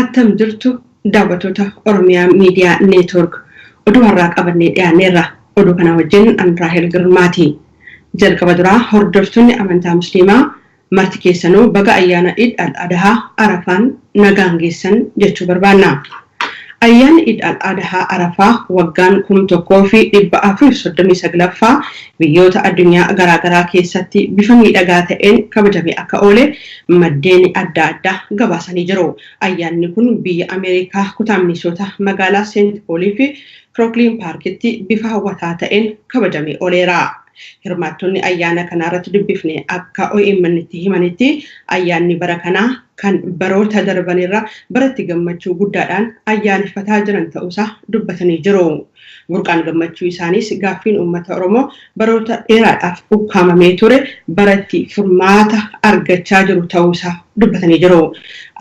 Attam jirtu daawwattoota Oromiyaa Miidiyaa Neetwoork. Oduu har'aa qabannee dhiyaanneerra. Oduu kana wajjin an Raahel Girmaati. Jalqaba duraa hordoftoonni amantaa Musliimaa Marti keessanuu baga ayyaana Iid Al Adahaa Arafaan nagaan geessan jechuu barbaanna. Ayyaanni Iid Al Adahaa Arafaa waggaan 1439ffaa biyyoota addunyaa garaa garaa keessatti bifa miidhagaa ta'een kabajamee akka oole maddeeni adda addaa gabaasanii jiru. Ayyaanni kun biyya Ameerikaa kutaa Minisoota magaalaa Seent Pooliifi Kirookliin Paarkitti bifa hawwataa ta'een kabajamee oleera. Hirmaattonni ayyaana kanaarratti dubbifne akka OMNtti himanitti ayyaanni bara kanaa kan baroota darbanirra baratti gammachuu guddaadhaan ayyaaneffataa jiran ta'uusaa dubbatanii jiru. Burqaan gammachuu isaaniis gaaffiin uummata Oromoo baroota dheeraadhaaf ukkaamamee ture baratti furmaata argachaa jiru ta'uusaa dubbatanii jiru.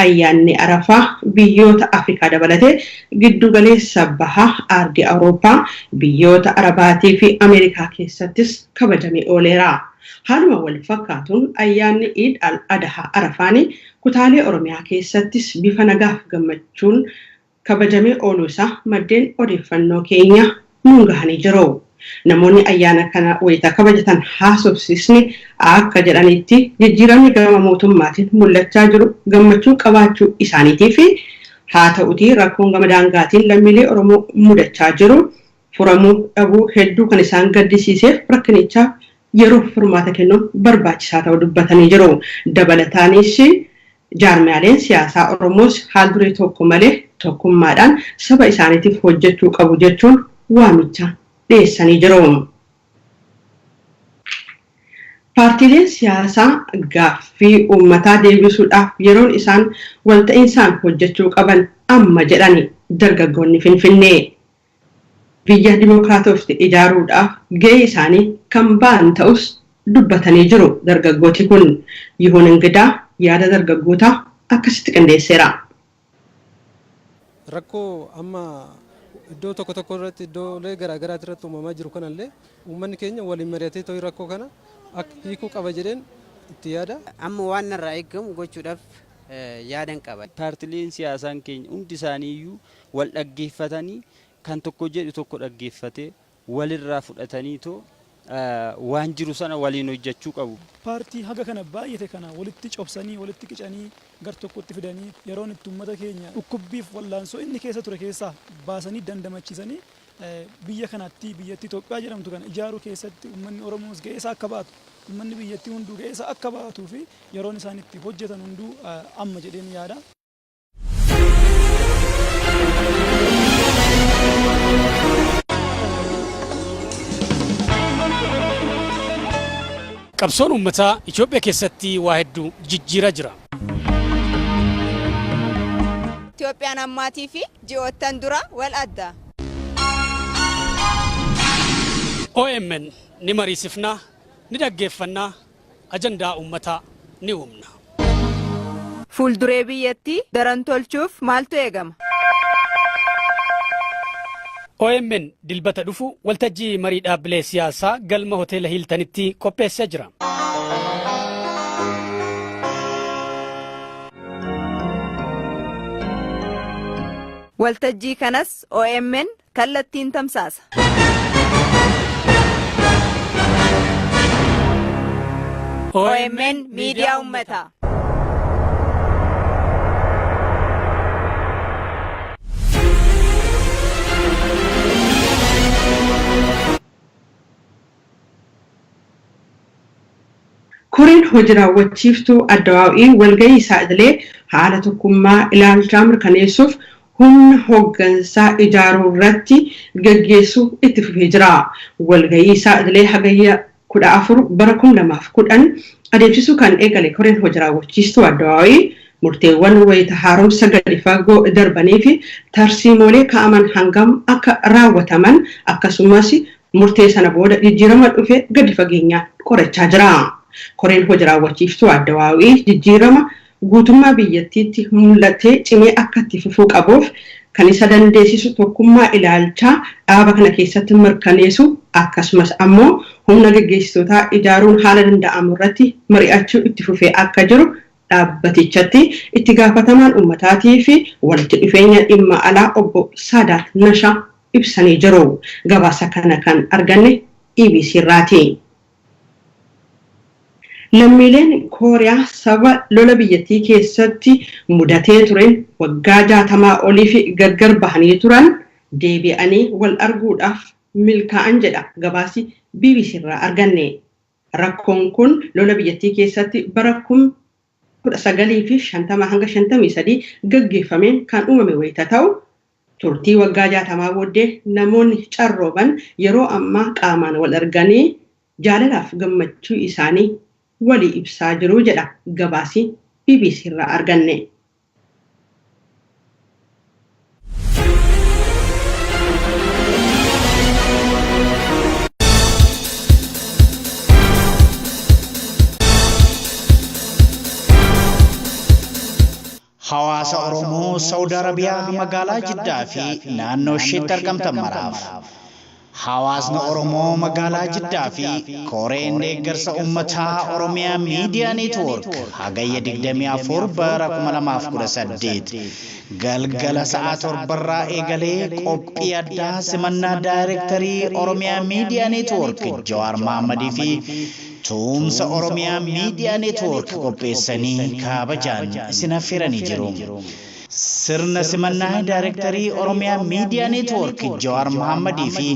Ayyaanni Arafaa biyyoota Afrikaa dabalatee Giddugaleessa Baha, Aardi Awurooppaa, biyyoota Arabaatii fi Ameerikaa keessattis kabajamee ooleera. Haaluma wal fakkaatuun ayyaanni Iid Al Adahaa Arafaani kutaalee Oromiyaa keessattis bifa nagaaf gammachuun kabajamee ooluu isaa maddeen odeeffannoo keenya nuun gahanii jiru. Namoonni ayyaana kana wayita kabajatan haasofsiisne akka jedhanitti, jijjiiramni gama mootummaatiin mul'achaa jiru gammachuu qabaachuu isaaniitiifi. Haata'utii rakkoon gama daangaatiin lammiilee Oromoo mudachaa jiru furamuu dhabuu hedduu kan isaan gaddisiiseef rakkinichaaf yeroof furmaata kennuun barbaachisaa ta'uu dubbatanii jiru. Dabalataanis, jaarmiyaaleen siyaasaa Oromoos haal-duree tokko malee tokkummaadhaan saba isaaniitiif hojjechuu qabu jechuun waamicha dhiyeessanii jiru. Paartiileen siyaasaa gaaffii uummataa deebisuudhaaf yeroon isaan walta'iinsaan hojjechuu qaban amma jedhan dargaggoonni Finfinnee. biyya dimokiraatoofte ijaaruudhaaf gahee isaanii kan ba'an ta'us dubbatanii jiru dargaggooti kun. Yihun Ingidaa yaada dargaggootaa akkasitti qindeesseera. Rakkoo amma iddoo tokko tokko irratti iddoolee garaa garaati irratti uumamaa jiru kana illee uummanni keenya waliin mari'atee ta'u rakkoo kana hiikuu qaba jedheen itti yaada. Amma waan narraa eegamu gochuudhaaf yaadan qaba. Paartileen siyaasaan keenya hundi isaanii iyyuu wal dhaggeeffatanii kan tokko jedhu tokko dhaggeeffatee walirraa fudhataniitoo waan jiru sana waliin hojjachuu qabu. Paartii haga kana baay'ate kana walitti cobsanii, walitti qicanii gar tokkotti fidanii yeroon itti ummata keenya dhukkubbiif wallaansoo inni keessa ture keessaa baasanii dandamachiisanii biyya kanattii biyyattii Itoophiyaa jedhamtu kana ijaaruu keessatti ummanni Oromoos ga'ee isaa akka ba'atu ummanni biyyattii hunduu ga'ee isaa akka ba'atuu fi yeroon isaan itti hojjetan hunduu amma jedheen yaada. Qabsoon uummataa Itoophiyaa keessatti waa hedduu jijjiiraa jira. Itoophiyaan ammaatii fi ji'oottan dura wal adda. OMN ni mariisifna, ni dhaggeeffanna, ajandaa uummataa ni uumna. Fuulduree biyyattii daran tolchuuf maaltu eegama? Omn Dilbata dhufu waltajjii marii dhaabbilee siyaasaa galma Hoteela Hiiltanitti qopheessee jira. Waltajjii kanas omn Kallattiin tamsaasa. OMN Miidiyaa Ummataa. Koreen Hoji Raawwachiiftuu Addawaaw'ii walgahii isaa idilee haala tokkummaa ilaalchaa mirkaneessuuf humna hoggansaa ijaaruu irratti gaggeessuu itti fufee jira. Walgahii isaa idilee Hagayya 14 bara 2010 adeemsisuu kan eegale Koreen Hoji Raawwachiistuu Addawaaw'ii murteewwan wayita haaromsa gadi fagoo darbaniifi tarsiimoolee kaa'aman hangam akka raawwataman akkasumas Murtee sana booda jijjiirama dhufe gadi fageenyaan qorachaa jira. Koreen hoji raawwachiiftuu Adda Waawii jijjiirama guutummaa biyyattiitti mul'ate cimee akka itti fufuu qabuuf kan isa dandeessisu tokkummaa ilaalchaa dhaaba kana keessatti mirkaneesu akkasumas ammoo humna geggeessitootaa ijaaruun haala danda'amu irratti mari'achuu itti fufee akka jiru dhaabbatichatti itti gaafatamaan ummataatiifi walitti dhufeenya dhimma alaa obbo Saadaat Nashaa ibsanii jiru. Gabaasa kana kan arganne EBC irraati. Lammiileen Kooriyaa sababa lola biyyattii keessatti mudatee tureen waggaa jaatamaa oliif gargar bahanii turan deebi'anii wal arguudhaaf milkaa'an jedha gabaasi bbc irraa arganne. Rakkoon kun lola biyyattii keessatti bara 1950-53 gaggeeffameen kan uumame wayita ta'u, Turtii waggaa 60 booddee namoonni carrooman yeroo ammaa qaamaan wal arganii jaalalaaf gammachuu isaanii walii ibsaa jiru jedha gabaasi bbc irraa arganne. Hawaasa Oromoo Sa'ud Arabiyaa magaalaa Jiddaa fi naannoo isheetti argamtan maraaf. Hawaasni Oromoo magaalaa Jiddaa fi Koreen Deeggarsa Ummataa Oromiyaa Miidiyaa Neetwoork Hagayya 24 bara 2018 galgala sa'aa 7 irraa eegalee qophii addaa simannaa Daayrektarii Oromiyaa Miidiyaa Neetwoork Jawaar Mahammadii fi Tuumsa Oromiyaa Miidiyaa Neetwoork qopheessanii kaabajaan isin affeeranii jiru. Sirna simannaa Daarektarii Oromiyaa Miidiyaa Neetwoork Jawaar Mohaammadii fi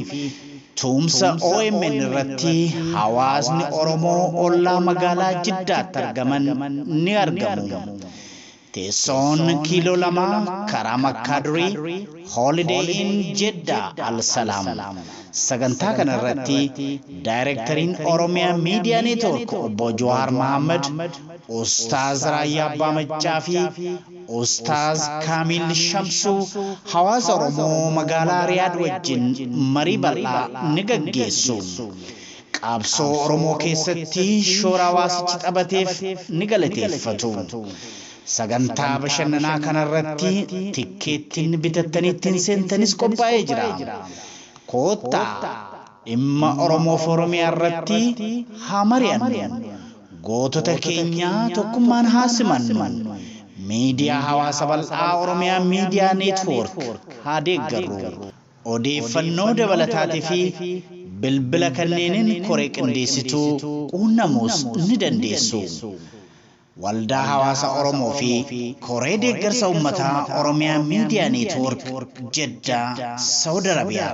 Tuumsa omn irratti hawaasni Oromoo ollaa magaalaa Jiddaatti argaman ni argamu. Teessoon kiiloo lama karaa Makkaa durii, Holiday Inn Jeddah Al Salaam. Sagantaa kana irratti Daayrektariin Oromia Media Network Obbo Jawaar Mahaammad, Ustaaz Raayyaa Abbaa Maccaa fi Ustaaz Kaamiil Shamsuu hawaasa Oromoo magaalaa Riyaad wajjin marii bal'aa ni gaggeessu. Qaabsoo Oromoo keessatti shoora hawaasichi taphateef ni galateeffatu. Sagantaa bashannanaa kana irratti tikkeettiin bitattanii ittiin seentanis qophaa'ee jira. Koottaa dhimma Oromoo fi Oromiyaa irratti haa mari'annu. Gootota keenya tokkummaan haa simannu. Miidiyaa hawaasa bal'aa Oromiyaa Miidiyaa Neetwoork haa deeggarru. Odeeffannoo dabalataatifi bilbila kanneeniin koree qindeessituu quunnamuus ni dandeessu. Waldaa Hawaasa Oromoo fi Koree Deeggarsa Ummataa Oromiyaa Miidiyaa Neetwoork, Jeddaa, Sawud Arabiyaa.